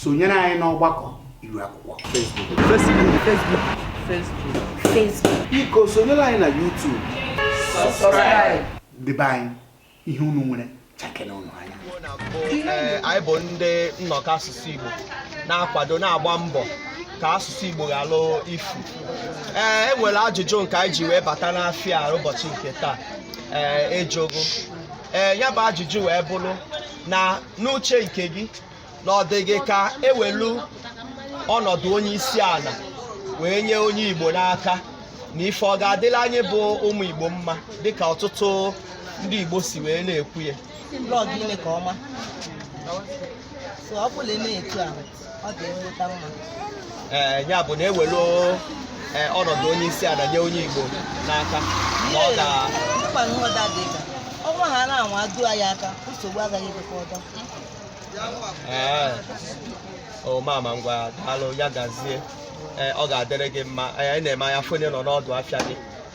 sonyere anyị n'ọgbakọ iru akwụkwọ Facebook Facebook Facebook Facebook Facebook biko sonyere anyị na YouTube subscribe debe anyị ihe unu nwere chakere unu anya ee anyị bụ ndị nnọkọ asụsụ Igbo na-akwado na-agba mbọ ka asụsụ Igbo ghalụ ifu ee e nwere ajụjụ nke anyị ji wee bata n'afịa ụbọchị nke taa ee ejogo ee ya bụ ajụjụ wee bụrụ na n'uche nke gị na ọ dị gị ka ewelu ọnọdụ onye isi ala wee nye onye Igbo n'aka na ife ọ ga-adịla anyị bụ ụmụ Igbo mma dịka ọtụtụ ndị Igbo si wee na-ekwu ya ọ bụlụ na etu ahụ ee ya bụ na ewelu e, ọnọdụ onye isi ala nye onye Igbo n'aka na ọ ga ọnwa ha na-anwa adu anyị aka nsogbu agaghị adịkwa ọdọ ee o mama ngwa daalụ ya gazie ee ọ ga-adịrị gị mma anyị na-eme anya fonye nọ n'ọdụ afịa gị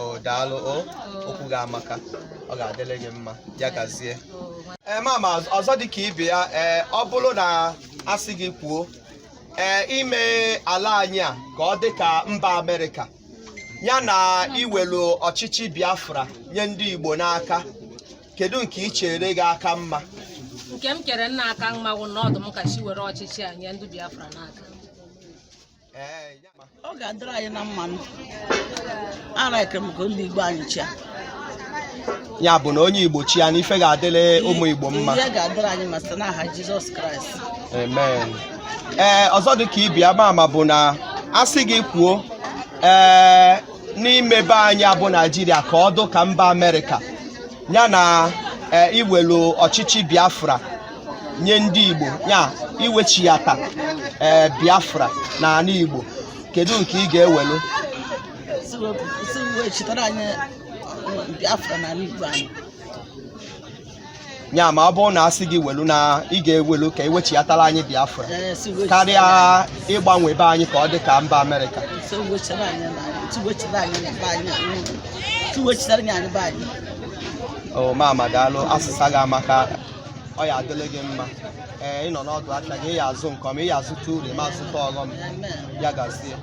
o daalụ o okwu gị amaka ọ ga-adịrị gị mma ya gazie ee mama ọzọ dị ka ibe ya ee ọ bụrụ na asị gị kwuo ee ime ala anyị a ka ọ dị ka mba amerịka ya na iwelu ọchịchị biafra nye ndị igbo n'aka kedu nke i chere ga-aka mma nke m chere na-aka mma bụ na ọ dụ m ka chi were ọchịchị a nye ndị biafra n'aka ọ ga-adịrị anyị na mma alaịkị m ka ndị Igbo anyị chịa ya bụ na onye Igbo chịa na ife ga-adịrị ụmụ Igbo mma ihe ga-adịrị anyị mma site n'aha Jizọs Kraịst amen ee ọzọ dị ka ibe ya mama bụ na a sị gị kwuo ee n'ime be anyị a bụ Naijiria ka ọ dụ ka mba Amerịka ya na eh, iwelu ọchịchị biafra nye ndị igbo ya iwechighata eh, biafra na ala igbo kedu nke ị ga-ewelu si wepụ- si wechitara anyị uh, biafra na ala igbo anyị ya ma ọ bụrụ na asị gị welu na ị ga-ewelu ka iwechighatara anyị biafra Ee, si wechitara karịa ịgbanwe be anyị ka ọ dị ka mba amerịka anyị- si wechitara anyị na si wechitara anyị na be anyị o mama daalụ asịsa gị amaka ọ ya adịlị gị mma ee ị nọ n'ọdụ afịa gị ị ya azụ nke ọma ị ya azụta uru ma azụta ọghọm ya gazie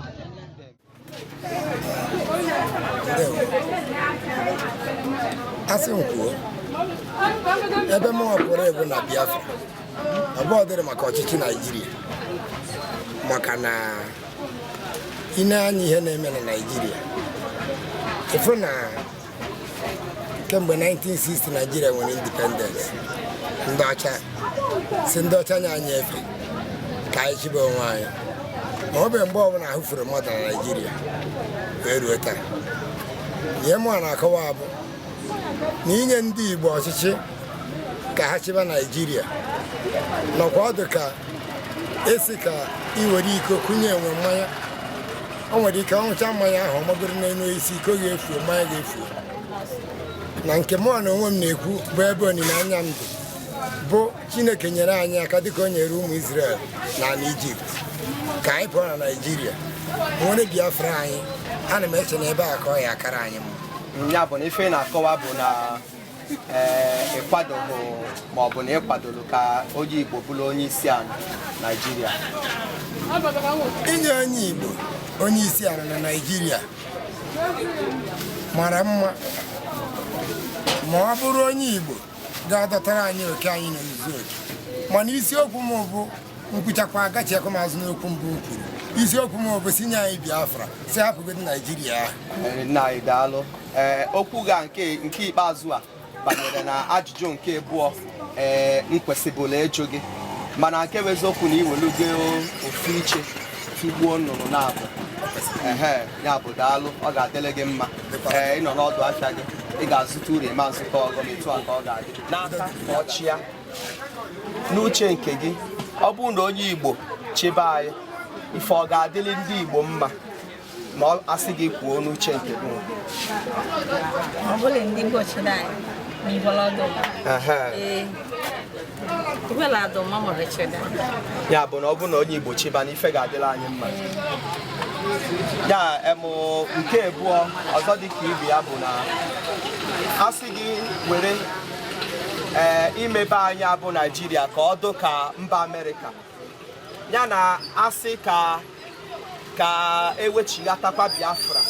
asị m kwuo ebe m pụrụ ebu na Biafra abụọ dịrị maka ọchịchị Naijiria maka na ị nee anya ihe na-eme na naijiria ịfụ na kemgbe 1960 naijiria nwere indipendensị ndị ọcha si ndị ọcha nye anyị efe ka anyị chịbe onwe anyị ma ọ bụ mgbe ọbụla ahụ furu mmadụ na naijiria wee ruo taa ihe mụ na-akọwa bụ na inye ndị Igbo ọchịchị ka ha chịba Naijiria nọkwa ọ dụ ka a sị ka iwere iko kunye enwe mmanya o nwere ike ọ ṅụcha mmanya ahụ ọ magoro n'elu osisi iko ga-efu mmanya ga-efu na nke mụ na onwe m na-ekwu bụ ebe olileanya m dị bụ Chineke nyere anyị aka dịka o nyere ụmụ Izrel na ala Ijipt ka anyị pụọ na Naịjirịa nwere Biafra anyị ana m eche na ebe a ka ọ ya-akara anyị mma ya bụ na ife ị na-akọwa bụ na eh, ịkwadoghị ma ọ bụ na ịkwadoro ka onye Igbo bụrụ onye isi ala Naịjirịa inye onye Igbo onye isi ala na Naịjirịa mara mma ma ọ bụrụ onye Igbo ga-adọtara anyị oke anyị na izu oke mana isiokwu m bụ m kwuchakwa agachiekwa m azụ n'okwu mbụ m kwuru isiokwu m bụ sị nye anyị biafra sị hapụgodi naijiria ahụ nna anyị daalụ ee okwu gị nke ikpeazụ a banyere na ajụjụ nke abụọ ee m kwesịbulu ịjụ gị mana nke bụ eziokwu na iwelugo ofu iche tụgbuo nnụnụ naabọ ehe ya bụ daalụ ọ ga-adịrị gị mma ee ịnọ n'ọdụ afịa gị ị ga-azụta uru ị ma zụta ọghọm etu a ka ọ ga-adị n'aka ka ọ chịa n'uche nke gị ọ bụrụ na onye igbo chịbe anyị ife ọ ga-adịrị ndị igbo mma ma a sị gị kwuo n'uche nke gị ọ bụrụ ndị igbo chịbe anyị ma ịbọrọ ọdụ Ehe. ee ya bụ na ọ bụ na onye Igbo chịba na ife ga-adịlị anyị mma ya emụ nke abụọ ọzọ dị ka ibe ya bụ na a sị gị were ee eh, imebe anyị bụ Naijiria ka ọ dụ ka mba Amerịka ya na asị ka ka ewechighatakwa Biafra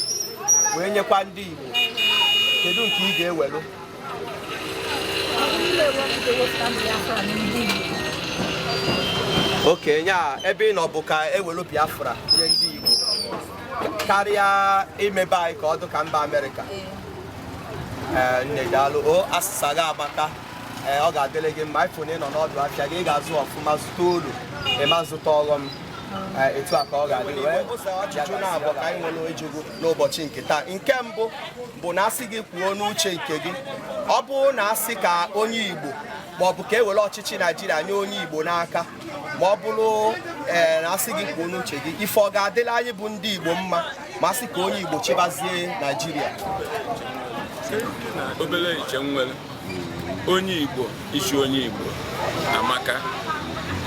wee nyekwa ndị Igbo kedu nke ị ga-ewelu okay nya ebe ị nọ bụ ka ewelu biafra nye ndị igbo karịa imebe anyị ka ọ dụ ka mba amerịka ee nne daalụ o asịsa gị amaka ee ọ ga-adịrị gị mma ifụ na ị nọ n'ọdụ afịa gị ị ga-azụ ọfụma zụta ulu ị ma zụta ọghọm Ee, etu a ka ọ ga-adị wee ụzọ ajụjụ naabọ ka anyị nwere ịjụ gị n'ụbọchị nke taa nke mbụ bụ na asị gị kwuo n'uche nke gị ọ bụrụ na asị ka onye Igbo maọbụ ka e were ọchịchị Naijiria nye onye Igbo n'aka ma ọ bụrụ ee na asị gị kwuo n'uche gị ife ọ ga-adịla anyị bụ ndị Igbo mma ma asị ka onye Igbo chịbazie Naijiria obere uche m were onye Igbo isi onye Igbo amaka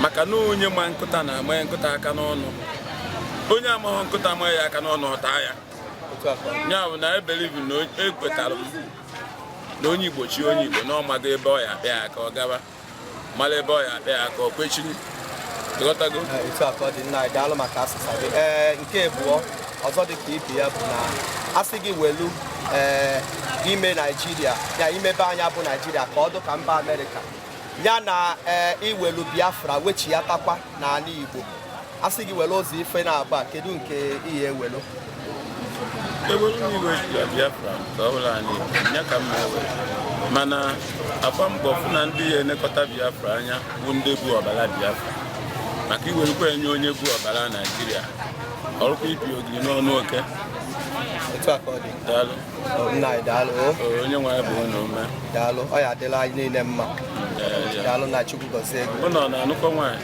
maka na onye ma nkụta na-ama ya nkụta aka n'ọnụ onye amaghị nkụta maa ya aka n'ọnụ ọ taa ya ya bụ na I believe na ekwetara m na onye Igbo chi onye Igbo na ọ mago ebe ọ ya akpa ya aka ọ gaba mara ebe ọ ya akpa ya aka o kwechiri ị ghọtago etu a ka ọ dị nna anyị daalụ maka asịsa gị ee nke abụọ ọzọ dị ka ibe ya bụ na asị gị welu ee ime naijiria ya imebe ani a bụ naijiria ka ọ dụ ka mba amerịka ya na ee iwelu biafra wechiyatakwa n'ani igbo a sị gị were ụzọ ife naabọ a kedu nke i ya ewelu ewelu m iwe ya biafra ka ọ bụ ala anyị ya ka m na-ewere mana a gbaa mbọ fụ na ndị ya elekọta biafra anya bụ ndị bu ọbara biafra maka i werukwa ya nye onye bu ọbara naijiria ọrụkwa ibi ogiri n'ọnụ oke otu a ka ọ dị daalụ Ọ, nna anyị daalụ o, Ee, onye nwe anyị gbaa ụnụ ume daalụ ọ ya adịla anyị niile mma Ee, ya. daalụ na chukwu gọzie gị ụnụ ọ na-anụkọ nwaanyị